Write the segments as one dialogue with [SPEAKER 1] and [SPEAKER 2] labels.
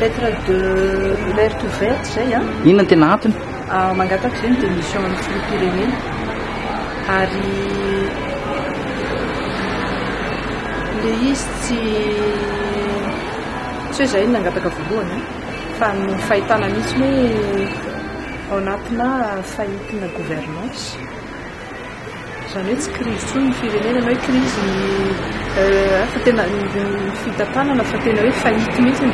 [SPEAKER 1] lettre de alerte verte zay a inona tena antony
[SPEAKER 2] ah, mangataka zay ny
[SPEAKER 1] démission amin'ny filoham-pirenena ary le izy tsy tsy hoe zay ny nangataka voalohany fa ny fahitana mihitsy hoe ao anatina fahitina gouvernance Izany hoe tsy krizy intsony ny firenena na hoe krizy ny fa tena ny fitantanana fa tena hoe faillite mihitsy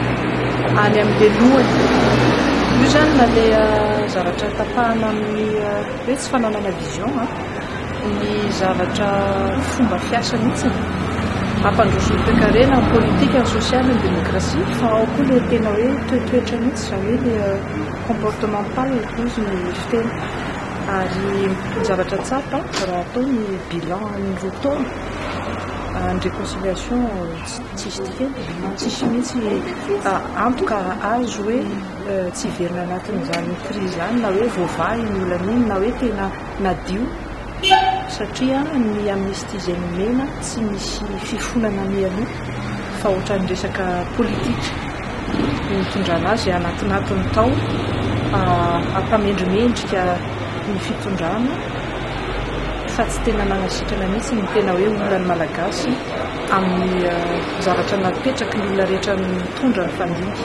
[SPEAKER 1] any amin'ilay lohany. Io izany na ilay zavatra tapahana amin'ny hoe tsy fananana vision ny zavatra fomba fiasa mihitsy hampandroso ny toekarena, ny politika, ny sosialy, ny demokrasia fa ao koa ilay tena hoe toetoetra mihitsy izany hoe ilay comportemental hoy ny fiteny. Ary ny zavatra tsapa raha atao ny bilan ny roa taona ny reconciliation tsisy dikany, tsisy mihitsy antoka azo hoe tsy hiverina anatin'izany crise izany na hoe voavaha iny olana iny na hoe tena nadio satria ny amnistie izay nomena tsy misy fifonana mialoha. fa ohatran'ny resaka politika no nitondrana azy anatinatiny tao hampamendrimendrika ny fitondrana fa tsy tena nanasitrana mihitsy ny tena hoe olona ny malagasy amin'ny zavatra napetraky ny olona rehetra nitondra ny fandinika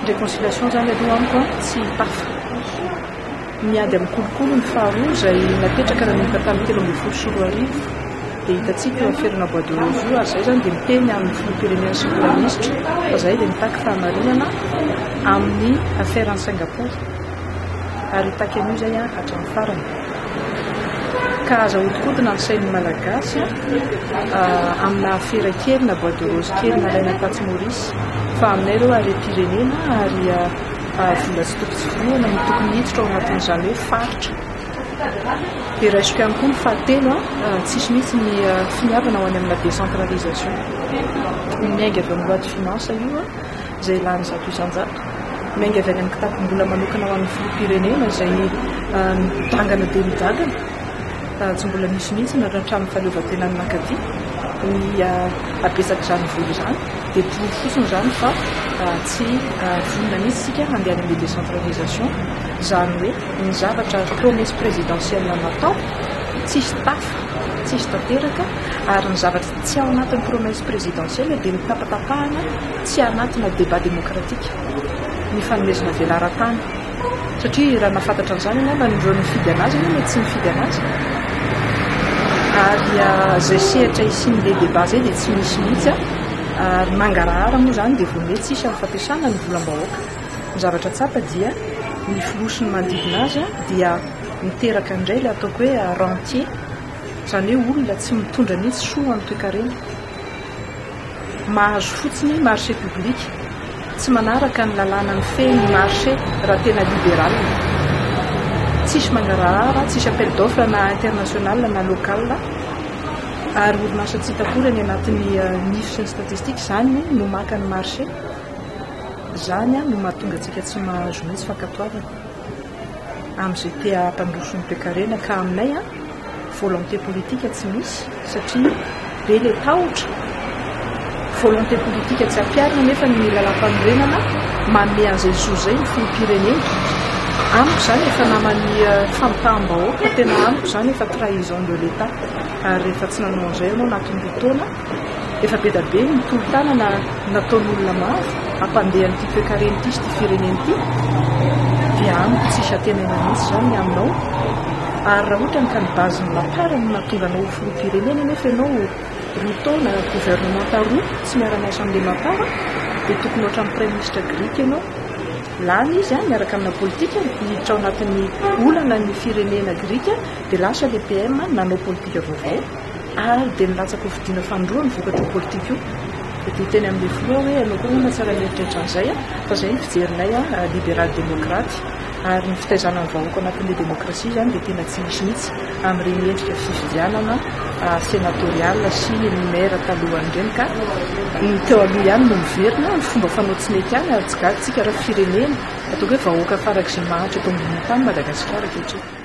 [SPEAKER 1] réconciliation zany aloha amiko tsy tafa Ny ady amin'ny kolikoly no faharoa izay napetraka nanomboka tamin'ny telo ambin'ny folo sy roa arivo dia hitantsika eo aferana bois de rose io ary izay izany dia miteny amin'ny filoham-pirenena sy praiministra fa izahay dia mitaky fahamarinana amin'ny affaire an'i Singapour ary hitaky an'io izay hatramin'ny farany ka aza hodikodina ny sain'ny malagasy amina afera kely na bois de rose kely nalaina tatsy Maurice fa aminay ireo harem-pirenena ary Vola tsy tokony tsipihina no tokony hiditra ao anatin'izany hoe faritra. Dia raisiko ihany koa ny fahatelo, tsisy mihitsy ny finiavana ho any amina décentralisation. Miainga avy amin'ny loi de finances io izay lany zato isan-jato. Miainga avy any amin'ny kitapom-bola manokana ho an'ny filoham-pirenena izay midangana dia midangana. Tsy mbola nisy mihitsy na hatramin'ny fahaleovantenan'ny Mankaty ny habetsak'izany vola izany. Dia toro fotsiny izany fa tsy vonona mihitsy isika handeha any amin'ny décentralisation, izany hoe ny zavatra promesse présidentielle natao tsisy tafa, tsisy tanteraka, ary ny zavatra tsy ao anatin'ny promesse présidentielle dia nitapatapahana tsy anatina débat démocratique, ny fanomezana velaran-tany. Satria raha nahafantatra an'izany ianao, na ireo nifidy an'azy aloha mety tsy nifidy an'azy. Ary izay sehatra hisian'ny le débat izay dia tsy misy mihitsy. Ary mangarahara moa izany dia vao mety hisy amin'ny fampiasana ny volam-bahoaka. Ny zavatra tsapa dia ny filoha sy ny manodidina azy dia miteraka indray ilay ataoko hoe rentier, izany hoe olona tsy mitondra mihitsy soa amin'ny toekarena. Mahazo fotsiny marché public, tsy manaraka ny lalàna mifehy ny marché raha tena libéral. Tsisy mangarahara, tsisy appel d'offre na international na local ary orinasa tsy hita akory any anatin'ny nifs sy ny statistiques izany no maka ny marché. Izany no mahatonga antsika tsy mahazo mihitsy fankatoavana. Amin'izay te hampandroso ny toekarena ka aminay an, volonté politique tsy misy satria be le tahotra, volonté politique tsy ampiharina nefa ny lalampanorenana manome an'izay zo izay ny filoham-pirenena. Amiko izany efa naman'ny famitaham-bahoaka, tena amiko izany efa trahison de l'Etat ary rehefa tsy nanao an'izay ianao anatin'ny roa taona, Efa be da be ny tolo-tanana nataon'olona maro hampandeha an'ity toekarena ity sy ity firenena ity dia amiko tsy hisy antenaina mihitsy izao ny aminao ary raha ohatra ka ny base ny lapara no nahatonga anao ho filoham-pirenena nefa ianao roa taona gouvernementa roa tsy miara-miasa amin'ilay lapara dia tokony ohatran'ny praiminisitra grika ianao lany izy an miaraka amina politika hiditra ao anatin'ny olana ny firenena grika dia lasa ilay PM nanao politika vaovao Ary dia nilatsaka ho fidiana fanindroa ny vokatro politika io. Dia niteny amin'ilay filoha hoe ianao koa angamba tsy ary nieritreritra an'izay an! Fa izay ny fijerinay an, liberaly demokraty. Ary ny fitaizana ny vahoaka ao anatin'ilay demokrasia izany dia tena tsy misy mihitsy amin'ireny endrika fifidianana senatoriala sy ny maire talohany ireny ka ny teo aloha ihany no miverina, ny fomba fanao tsy mety ihany ary tsy gaga isika raha firenena ataoko hoe vahoaka farak'izay mahantra eto ambonin'ny tany Madagasikara ankehitriny.